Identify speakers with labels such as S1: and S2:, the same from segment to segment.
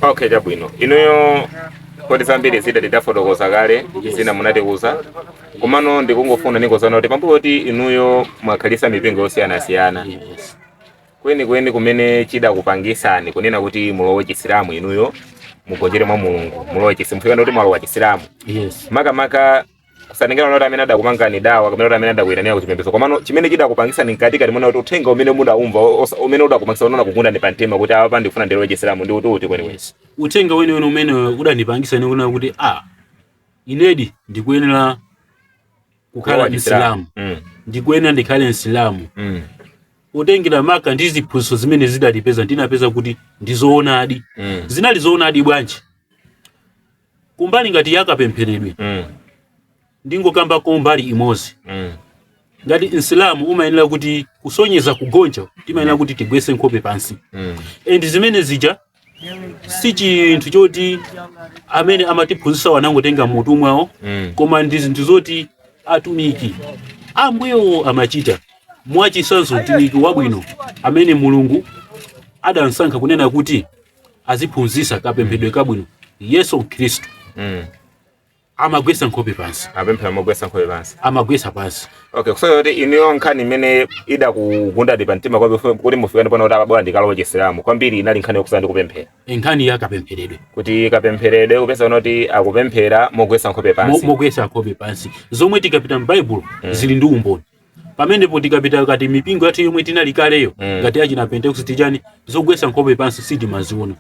S1: Okay, chabwino inuyo kodi zambiri zida tidafotokoza kale zina munatiuza komano ndikungofuna ndikhudzeko kuti pambuyo kuti inuyo mwakhala m' mipingo
S2: yosiyanasiyana
S1: kwenikweni kumene chidakupangisani kunena kuti mulowe chisilamu inuyo mugonjere mwa mulungu mulowe chisilamu kufika kuti mwalowa chisilamu yes. makamaka kusatengera zoti amene adakupangani dawa kapena kuti amene adakuyitanira ku chipembedzo komano chimene chidakupangisani mkatikati mwenimweni kuti uthenga umene mudaumva osa- umene udakupangisa kunena unakugundani pa mtima kuti apa ndifuna ndilowe chisilamu ndi uti kwenikweni uthenga
S2: weniweni umene udandipangisa ine kunena kuti a inedi ndikuyenera kukhala Kulowa msilamu Mm, ndikuyenera ndikhale msilamu mm, kutengera maka ndi ziphunzitso zimene ndidazipeza ndinapeza kuti ndizoonadi mm. zinali zoonadi bwanji kumbali ngati yakapempheredwe mm. ndingokambako mbali imodzi mm. ngati msilamu umayenera kuti kusonyeza kugonja timayenera kuti tigwese nkhope pansi mm. and zimene zija si chinthu choti amene amatiphunzisa anangotenga m'mutu mwawo mm. koma ndi zinthu zoti atumiki ambuyewo amachita mwachisanzo mtumiki wabwino amene mulungu adamsankha kunena kuti aziphunzisa kapempheredwe kabwino yesu khristu mm. amagwesa nkhope pansi apemphera mogwesa nkhope
S1: pansi amagwesa pansi
S2: okay kusonyeza kuti inuyo
S1: nkhani imene idakugundani pa mtima kwambiri kuti mufike ponena kuti apa bwanji ndikalowe chisilamu kwambiri inali nkhani yokhuzana ndi kupemphera nkhani ya
S2: kapempheredwe kuti
S1: kapempheredwe kupeza kunena kuti akupemphera mogwesa nkhope pansi mogwesa nkhope pansi
S2: zomwe tikapita m'baibulo mm. zili ndi umboni pamenepo tikapita mkati mipingo yathu yomwe tinali kaleyo Mm. ngati achina pentekoste chanichani zogwesa nkhope pansi sitimaziona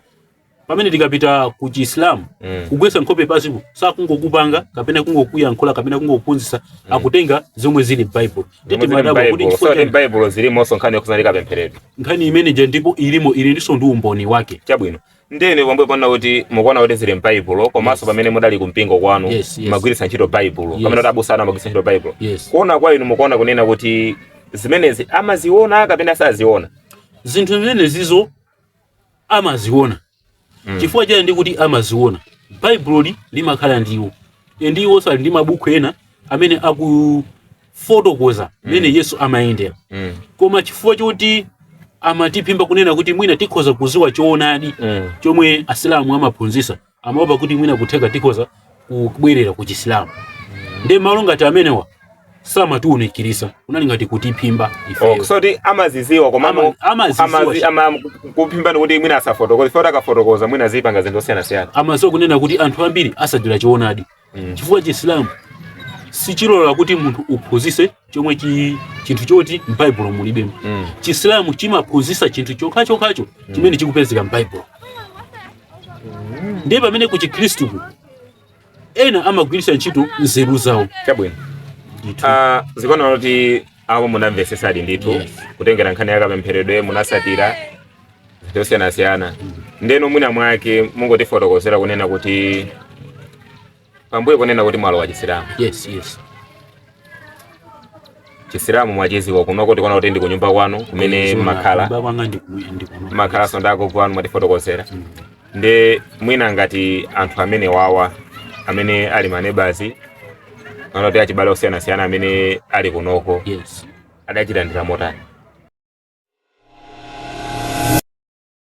S2: pamene tikapita ku chiislamu Mm. kugwesa nkhope pansiko sakungokupanga kapena kungokuyankhula kapena kungokuphunzitsa akutenga zomwe zili m'baibulo Zomwe zili
S1: m'Baibulo. So, ndi m'Baibulo zilimo nkhani yokhuzana ndi kapempheredwe nkhani imeneja ndipo
S2: ilimo ilinso ndi umboni wake chabwino Ndiye
S1: inu pambuyo ponena kuti mukuona kuti zili m'Baibulo komanso Yes. pamene mudali ku mpingo kwanu Yes, yes. mumagwiritsa ntchito Baibulo Yes. pomwe kuti abusa anu amagwiritsa ntchito Baibulo Yes. kuona kwa inu mukuona kunena kuti zimenezi amaziona kapena saziona
S2: zinthu zimenezizo amaziona chifukwa chani ndikuti amaziona baibuloli limakhala ndi iwo ndi iwo sali ndi mabuku ena amene aku fotokoza mmene yesu amayendera Mm. koma chifukwa choti amatiphimba kunena kuti mwina tikhoza kuziwa choonadi Mm. chomwe asilamu amaphunzisa amaopa kuti mwina kutheka tikhoza kubwerera ku chisilamu nde malo ngati amenewa samatiunikirisa kunali ngati kutiphimba Oh, ifeyo kusonyeza kuti
S1: amaziziwa koma Ama- amaziziwa. amazi- amakuphimbani kuti mwina asafotokoze poti akafotokoza mwina azipanga zinthu zosiyanasiyana amaziwa kunena kuti anthu
S2: ambiri atsatira choonadi chifukwa chisilamu sichilola kuti munthu uphunzise chomwe chi, chinthu choti m'baibulo mulibemo Mm. chisilamu chimaphunzisa chinthu chokhachokhacho chimene chikupezeka m'baibulo ndiye pamene ku chikhristuku ena amagwiritsa ntchito nzeru zawo
S1: chabwino ndithu Ah, zikuoneka kuti apo munamvesesadi ndithu Yes. kutengera nkhani yakapempheredwe munasatira zosiyanasiyana ndeno mwina mwake mungotifotokozera kunena kuti pambuyo kunena kuti mwalowa chisilamu yes yes chisilamu mwachiziwa kunoko tikuona kuti ndi kunyumba kwanu kumene mmakhala mmakhala sondako kwanu mwatifotokozera mm. ndi mwina ngati anthu amene wawa amene ali manebazi akuti achibale osiyanasiyana amene ali kunoko yes. adachilandira motani?